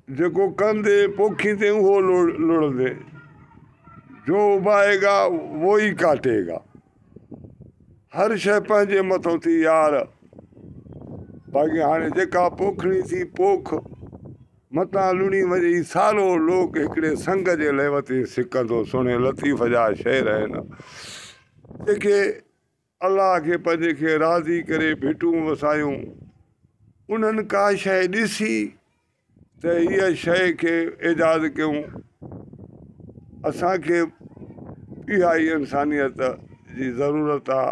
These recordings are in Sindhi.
جيڪو ڪندي پوکيندين اهو لڙندين، جو اڀائي گا وو ئي ڪاٽي گا. هر شيء پنهنجي مٿان ٿي يار، باقي هاڻي جيڪا پوکڻي ٿي پوک، متان لڻي وڃي هي سارو لوڪ هڪڙي سنگ جي ليوتين سڪندو سهڻي لطيف جا شعر آهن، جيڪي الله کي پنهنجي کي راضي ڪري ڀٽون وسايون. انهن ڪا شيء ڏسي ته هيء شيء کي ايجاد ڪيون. اسان کي به اها ئي انسانيت جي ضرورت آ.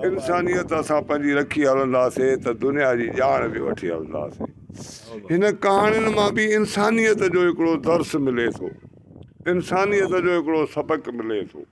انسانيت اسان پنهنجي رکي هلنداسين ته دنيا جي ڄاڻ به وٺي هلنداسين. هن ڪهاڻين مان به انسانيت جو هڪڙو درس ملي ٿو. انسانيت جو هڪڙو سبق ملي ٿو.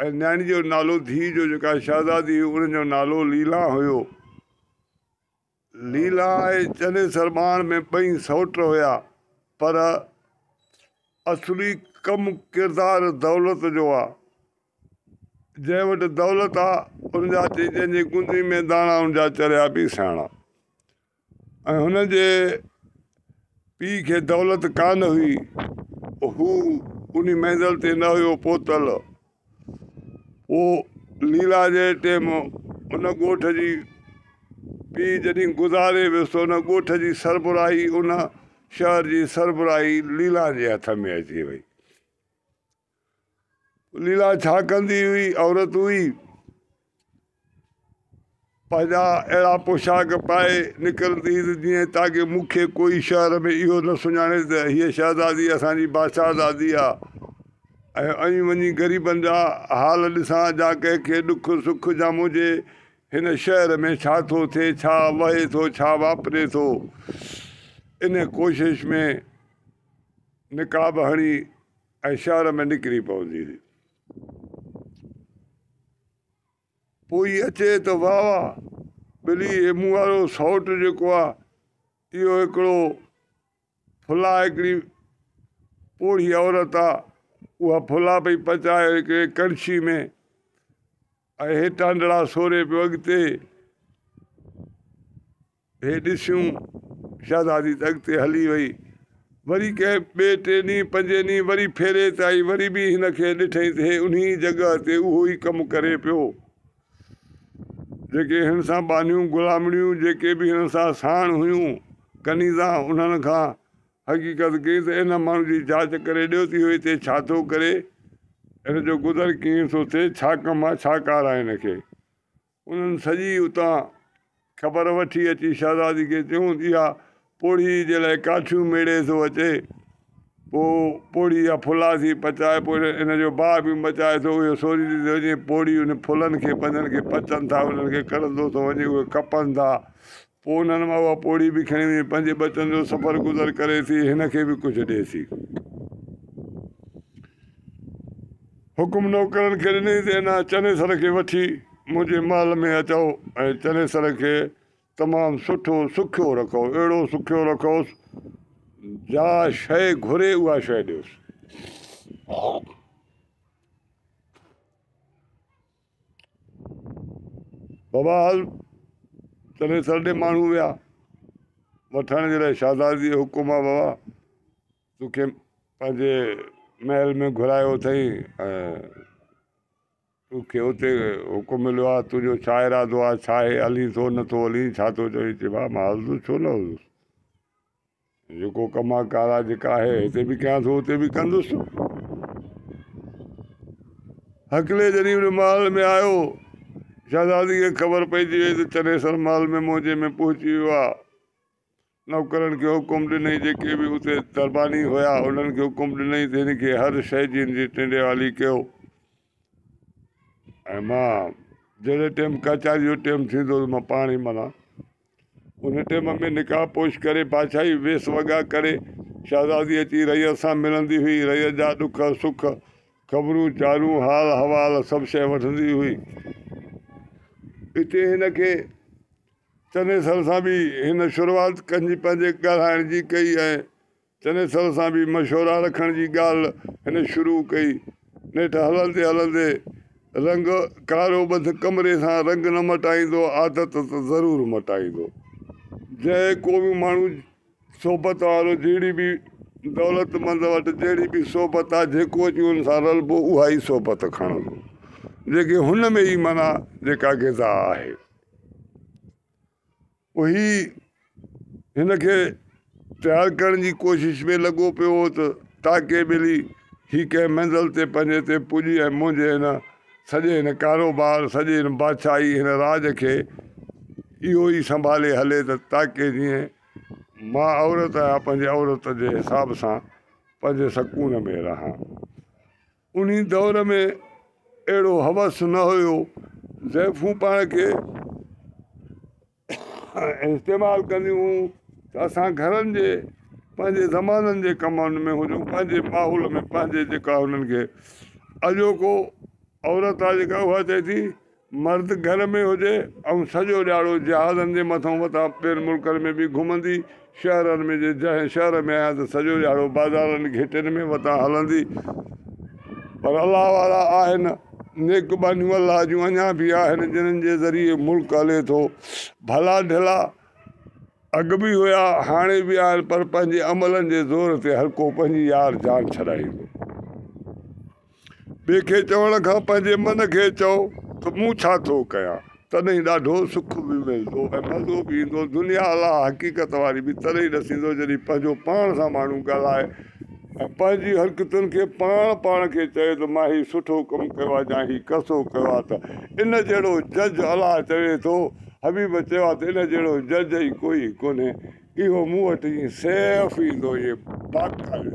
۽ نياڻي جو نالو ڌيء جو جيڪا شهزادي هئي ان جو نالو ليلان هيو. ليلان ۽ چنيسر ٻانهن ۾ ٻئي سئوٽ هيا پر اصلي ڪم ڪردار دولت جو آ. جنهن وٽ دولت آ ان جا چئي جنهن جي گندي ۾ داڻا ان جا چريا ٻي سياڻا. ۽ هن جي پيء کي دولت ڪا نه هئي، هو انهي منزل تي نه هيو پهتل. پوء ليلا جي ٽيم ان ڳوٺ جي پيء جڏهن گذاري ويس ته ان ڳوٺ جي سربراهي ان شهر جي سربراهي ليلا جي هٿ ۾ اچي وئي. ليلا ڇا ڪندي هئي؟ عورت هئي. پنهنجا اهڙا پوشاڪ پائي نڪرندي هئي ته جيئن تاڪه مون کي ڪوئي شهر ۾ اهو نه سڃاڻي ته هيء شهزادي اسان جي بادشاهزادي آهي ۽ آئون وڃي غريبن جا حال ڏسان جا ڪنهن کي ڏک سک ڄام هجي. هن شهر ۾ ڇا ٿو ٿئي، ڇا وهي ٿو، ڇا واپري ٿو. ان ڪوشش ۾ نقاب هڻي. ۽ شهر ۾ نڪري پوندي هئي. پوء هي اچي ته واهه واهه ٻلي هي مون وارو سئوٽ جيڪو آ اهو هڪڙو ڦلا هڪڙي پوڙهي عورت آ اها ڦلا پئي پچائي هڪڙي ڪڙڇي ۾ ۽ هي ٽانڊڙا سوري پيو اڳتي هي ڏسيون شهزادي ته اڳتي هلي وئي. وري ڪنهن ٻئي ٽئين ڏينهن پنجين ڏينهن وري ڦيري ته آئي وري به هن کي ڏٺئي ته هي انهي جڳهه تي اهو ئي ڪم ڪري پيو جيڪي هن سان ٻانهيون غلامڙيون جيڪي به هن سان ساڻ هيون ڪنيزا انهن کان حقيقت ڪئي ته ان ماڻهو جي جاچ ڪري ڏيو ته اهو هتي ڇا ٿو ڪري هن جو گذر ڪيئن ٿو ٿئي ڇا ڪم آهي ڇا ڪار آهي هن کي. انهن سڄي اتان خبر وٺي اچي شهزادي کي چيون ته اها پوڙهي جي لاء ڪاٺيون ميڙي ٿو اچي. پوء پوڙهي جا ڦلا ٿي پچائي پوء ان جو باهه به مچائي ٿو. اهو سوريندي ٿو وڃي. پوڙهي ان ڦلن کي پنهنجن کي پچن ٿا. انهن کي ڪڙهندو ٿو وڃي. اهي ڪپن ٿا. پوء انهن مان اها پوڙهي به کڻي وڃي پنهنجي ٻچن جو سفر گذر ڪري ٿي، هن کي به ڪجهه ڏئي ٿي. حڪم نوڪرن کي ڏني ته هن چنيسر کي وٺي منهنجي محل ۾ اچئو ۽ چنيسر کي تمام سٺو سکيو رکئو، اهڙو سکيو رکئوس، جا شيء گهري اها شيء ڏيوس. بھرحال چنيسر ڏي ماڻھو ويا وٺڻ جي لاء شھزادي جي حڪم آ بابا تو کي پنھنجي محل ۾ گھرايو اٿئي ۽ تو کي اتي حڪم مليو آ تنھنجو ڇا ارادو آ ڇا ھي ھلين ٿو نٿو ھلين ڇا ٿو چوين چي بابا مان ھلندس ڇو نه ھلندس جيڪو ڪم آ ڪار آ جيڪا آهي هتي به ڪيان ٿو اتي به ڪندس. هڪلي جڏهن ان محل ۾ آيو، شهزادي کي خبر پئجي وئي ته چنيسر محل ۾ موجي ۾ پهچي ويو آ. نوڪرن کي حڪم ڏنئي جيڪي به اتي درباني هيا انهن کي حڪم ڏنئي ته هن کي هر شيء جي هن جي ٽنڊيوالي ڪيو ۽ مان جهڙي ٽيم ڪچهري جو ٽيم ٿيندو ته مان پاڻ ئي منا ان ٽيم ۾ نقاب پوش ڪري، بادشاهي ويس وڳا ڪري، شهزادي اچي رعيت سان ملندي هئي. رعيت جا ڏک سک، خبرون چارون، حال احوال سڀ شيء وٺندي هئي. اتي هن کي چنيسر سان به هن شروعات ڪنهن جي پنهنجي ڳالهائڻ جي ڪئي ۽ چنيسر سان به مشورا رکڻ جي ڳالهه هن شروع ڪئي. نيٺ هلندي هلندي رنگ ڪارو ٻڌ ڪمري سان رنگ نه مٽائيندو عادت ته ضرور مٽائيندو. جنهن ڪو به ماڻهو صحبت وارو جهڙي به دولتمند وٽ جهڙي به صحبت آ جيڪو اچي ان سان رلبو اها ئي صحبت کڻندو جيڪي هن ۾ ئي معنيٰ جيڪا غذا آهي. اهي هن کي تيار ڪرڻ جي ڪوشش ۾ لڳو پيو هو ته تاڪي ٻلي هي ڪنهن منزل تي پنهنجي تي پڄي ۽ منهنجي هن سڄي هن ڪاروبار سڄي هن بادشاهي هن راڄ کي اهو ئي سنڀالي هلي ته تاڪي جيئن مان عورت آهيان پنهنجي عورت جي حساب سان پنهنجي سڪون ۾ رهان انهي دور ۾ اهڙو هوس نه هيو، زائفون پاڻ کي استعمال ڪنديون هيون ته اسان گهرن جي پنهنجي زمانن جي ڪمن ۾ هجون پنهنجي ماحول ۾ پنهنجي جيڪا هنن کي اڄوڪو عورت آ جيڪا اها چئي ٿي مرد گهر ۾ هجي ۽ سڄو ڏهاڙو جهازن جي مٿان مٿان ٻين ملڪن ۾ به گهمندي شهرن ۾ جي جنهن شهر ۾ آهيان ته سڄو ڏهاڙو بازارن گهٽين ۾ وتان هلندي پر الله وارا آهن نيڪ ٻانهيون الله جون اڃا به آهن جنهن جي ذريعي ملڪ هلي ٿو ڀلا ڍلا اڳ به هيا هاڻي به آهن پر پنهنجي عملن جي زور تي هر ڪو پنهنجي يار جان ڇڏائيندو ٻئي کي چوڻ کان پنهنجي من کي چئو ته مون ڇا ٿو ڪيان، تڏهن ڏاڍو سک به ملندو ۽ مزو به ايندو. دنيا اها حقيقت واري به تڏهن ئي ڏسيندو جڏهن پنهنجو پاڻ سان ماڻهو ڳالهائي ۽ پنهنجي حرڪتن کي پاڻ پاڻ کي چوي ته مان هي سٺو ڪم ڪيو آهي يا هي ڪسو ڪيو آهي ته ان جهڙو جج الله چوي ٿو حبيب چيو ته ان جهڙو جج ئي ڪوئي ڪونهي اهو مون وٽ ائين سيف ايندو ائين باقاعدي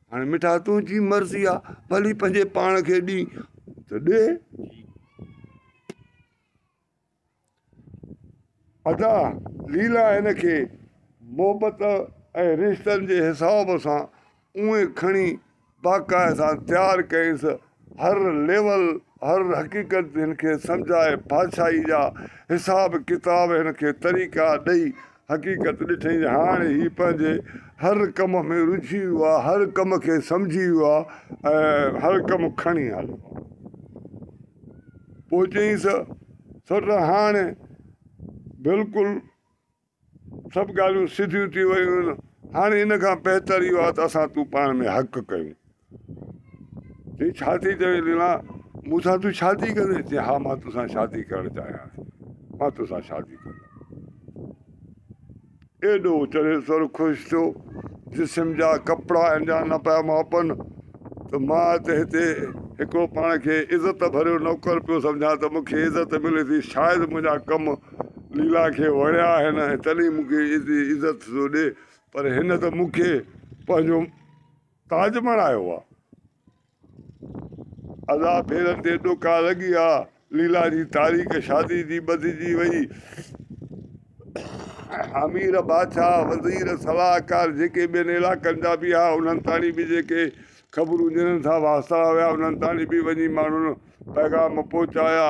هاڻي مٺا تنهنجي مرضي آ ڀلي پنهنجي پاڻ کي ڏي ته ڏي. ادا ليلا هن کي محبت ۽ رشتن جي حساب سان اوهين کڻي باقاعده تيار ڪيس هر ليول هر حقيقت هن کي سمجهائي بادشاهي جا حساب ڪتاب هن کي طريقا ڏئي حقيقت ڏٺئين هاڻي هي پنهنجي هر ڪم ۾ رجهي ويو آهي هر ڪم کي سمجهي ويو آهي ۽ هر ڪم کڻي هليو آهي پوء چيائينس سوٽ هاڻي بلڪل سڀ ڳالهيون سڌيون ٿي ويون آهن، هاڻي ان کان بهتر اهو آهي ته اسان تون پاڻ ۾ حق ڪيون. چي ڇا ٿي چوين ليلا، مون سان تون شادي ڪندين؟ چي ها مان تو سان شادي ڪرڻ چاهيان ٿي، مان تو سان شادي ڪندم. ايڏو چري سر خوش ٿيو، جسم جا ڪپڙا ان جا نه پيا ماپن ته مان ته هتي هڪڙو پاڻ کي عزت ڀريو نوڪر پيو سمجهان ته مون کي عزت ملي ٿي، شايد منهنجا ڪم ليلا کي وڻيا آهن ۽ تڏهن مون کي ايتري عزت ٿو ڏي پر هن ته مون کي پنهنجو تاج بڻايو آ. ادا پيرن تي ڏوڪا لڳي آ. ليلا جي تاريخ شادي جي ٻڌجي وئي. امير بادشاهه، وزير، صلاحڪار جيڪي ٻين علائقن جا به ها انهن تائين به جيڪي خبرون ڏيڻ ٿا واسطا هيا انهن تائين به وڃي ماڻهن پيغام پهچايا.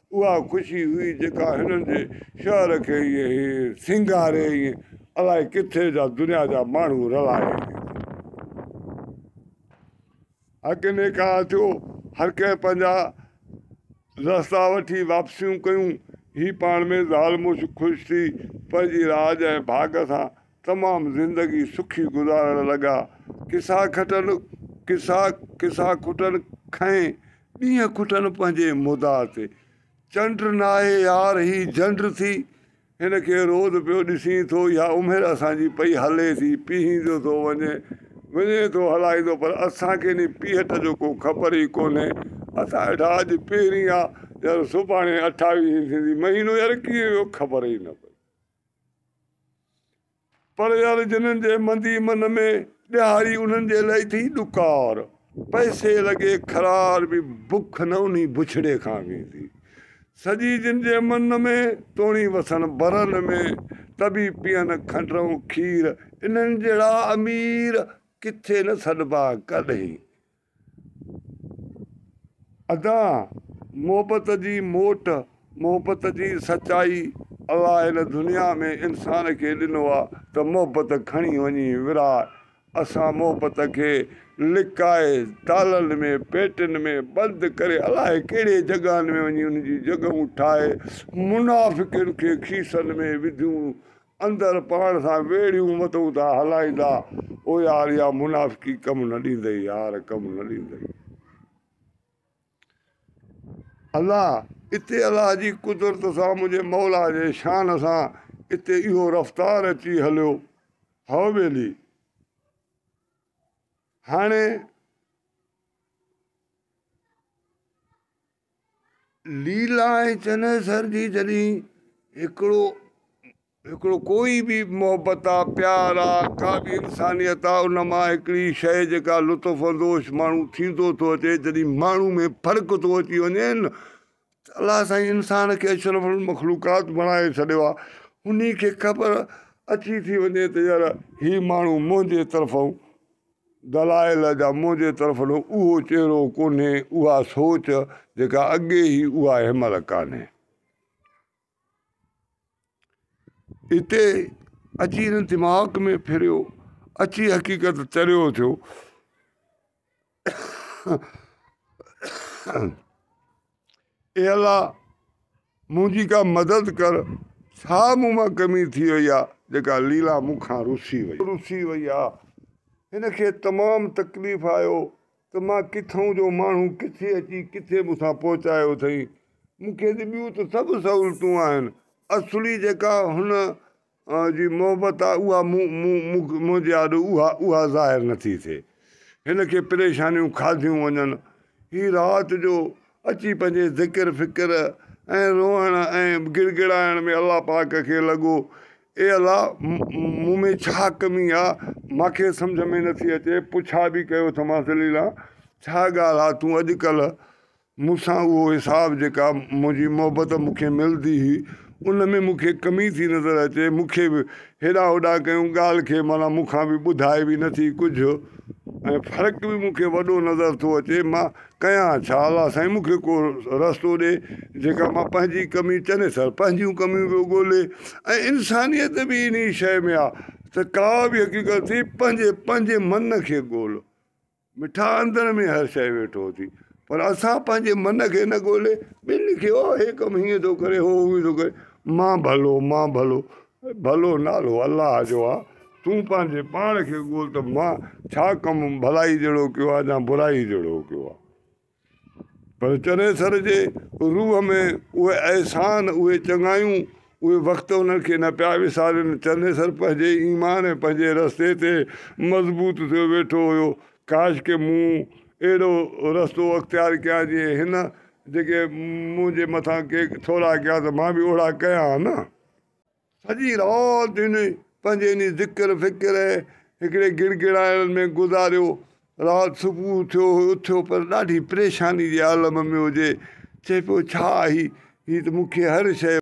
اها خوشي هئي جيڪا هنن جي شهر کي ائين سينگاري ائين الاء ڪٿي جا دنيا جا ماڻهو رلائي ائين اڳ نيڪا ٿيو هر ڪنهن پنهنجا رستا وٺي واپسيون ڪيون هي پاڻ ۾ زال مڙس خوش ٿي پنهنجي راڄ ۽ ڀاڳ سان تمام زندگي سکي گذارڻ لڳا. قصا کٽن قصا قصا کٽن کئين ڏينهن کٽن پنهنجي مدعا تي. چنڊ ناهي يار هي جنڊ ٿي. هن کي روز پيو ڏسين ٿو اها عمر اسان جي پئي هلي ٿي. پيهيندو ٿو وڃي وڃي ٿو هلائيندو پر اسان کي انهي پيهٽ جو ڪو خبر ئي ڪونهي. اسان ويٺا اڄ پهرين آ يار سڀاڻي اٺاويهين ٿيندي مهينو يار ڪيئن ويو خبر ئي نه پئي. پر يار جنھن جي مندي من ۾، ڏيھاري انھن جي لئي ٿي ڏڪار. پئسي لڳي خرار به بک نه انھي بڇڙي کان ويندي. سڄي جن جي من ۾، توڻي وسن برن ۾، ته به پيئن کنڊ ۽ کير. انھن جهڙا امير، ڪٿي نه سڏبا ڪڏھين. ادا محبت جي موٽ محبت جي سچائي الله هن دنيا ۾ انسان کي ڏنو آ ته محبت کڻي وڃي ورهائي اسان محبت کي لڪائي تالن ۾ پيٽين ۾ بند ڪري الائي ڪهڙي جڳهن ۾ وڃي ان جي جڳهون ٺاهي منافقين کي کيسن ۾ وڌيون اندر پاڻ سان ويڙهيون متئون ٿا هلائيندا او يار اها منافقي ڪم نه ڏيندئي يار ڪم نه ڏيندئي الا اتي الله جي قدرت سان منهنجي مولا جي شان سان اتي اهو رفتار اچي هليو هئو ٻيلي هاڻي ليلا ۽ چنيسر جي جڏهن هڪڙو هڪڙو ڪوئي به محبت آ پيار آ ڪا به انسانيت آ ان مان هڪڙي شئي جيڪا لطف اندوش ماڻهو ٿيندو ٿو اچي جڏهن ماڻهو ۾ فرق ٿو اچي وڃي نه ته الله سائين انسان کي اشرف المخلوقات بڻائي ڇڏيو آ انهي کي خبر اچي ٿي وڃي ته يار هي ماڻهو منهنجي طرفون دلائل جا منهنجي طرفن اهو چهرو ڪونهي، اها سوچ جيڪا اڳي هئي اها هن مهل ڪانهي. اتي اچي هن دماغ ۾ ڦريو، اچي حقيقت تريو ٿيو. اي الله! منهنجي ڪا مدد ڪر، ڇا مون مان ڪمي ٿي وئي آ، جيڪا ليلا مون کان رسي وئي. رسي وئي آ. هن کي تمام تڪليف آيو ته مان ڪٿئون جو ماڻهو ڪٿي اچي ڪٿي مون سان پهچايو اٿئي. مون کي ته ٻيون ته سڀ سهولتون آهن، اصلي جيڪا هن جي محبت آ اها مون مون مون منهنجي آڏو اها اها ظاهر نه ٿي ٿئي هن کي پريشانيون کاڌيون وڃن هي رات جو اچي پنهنجي ذڪر فڪر ۽ روئڻ ۽ گڙگڙائڻ ۾ الله پاڪ کي لڳو اي الله مون ۾ ڇا ڪمي آ مان کي سمجهه ۾ نه ٿي اچي پڇا به ڪيو ٿمانس عليلا ڇا ڳالهه آ تون اڄڪلهه مون سان اهو حساب جيڪا منهنجي محبت مون کي ملندي هئي ان ۾ مون کي ڪمي ٿي نظر اچي مون کي به هيڏانهن هوڏانهن ڪيون ڳالهه کي معنيٰ مون کان به ٻڌائي به نٿي ڪجهه ۽ فرق به مون کي وڏو نظر ٿو اچي مان ڪيان ڇا الله سائين مون کي ڪو رستو ڏي جيڪا مان پنهنجي ڪمي چنيسر پنهنجيون ڪميون پيو ڳولي ۽ انسانيت به انهي شيء ۾ آ ته ڪا به حقيقت ٿي پنهنجي پنهنجي من کي ڳول مٺا اندر ۾ هر شيء ويٺو ٿي پر اسان پنهنجي من کي نه ڳولي ٻين کي او هي ڪم هيئن ٿو ڪري هو هونئن ٿو ڪري مان ڀلو مان ڀلو ڀلو نالو الله جو آ تون پنهنجي پاڻ کي ڳول ته مان ڇا ڪم ڀلائي جهڙو ڪيو آ يا برائي جهڙو ڪيو آ پر چنيسر جي روح ۾ اهي احسان، اهي چڱايون، اهي وقت انهن کي نه پيا وسارين. چنيسر پنهنجي ايمان ۽ پنهنجي رستي تي مضبوط ٿيو ويٺو هيو. ڪاش ڪي مون اهڙو رستو اختيار ڪيان جيئن هن جيڪي منهنجي مٿان ڪي ٿورا ڪيا ته مان به اوهڙا ڪيان ها نه. سڄي رات هن پنهنجي انهي ذڪر فڪر ۽ هڪڙي گڙ گڙائڻ ۾ گذاريو. رات صبح ٿيو هو اٿيو پر ڏاڍي پريشاني جي عالم ۾ هجي. چئي پيو ڇا هي؟ هي ته مون کي هر شيء.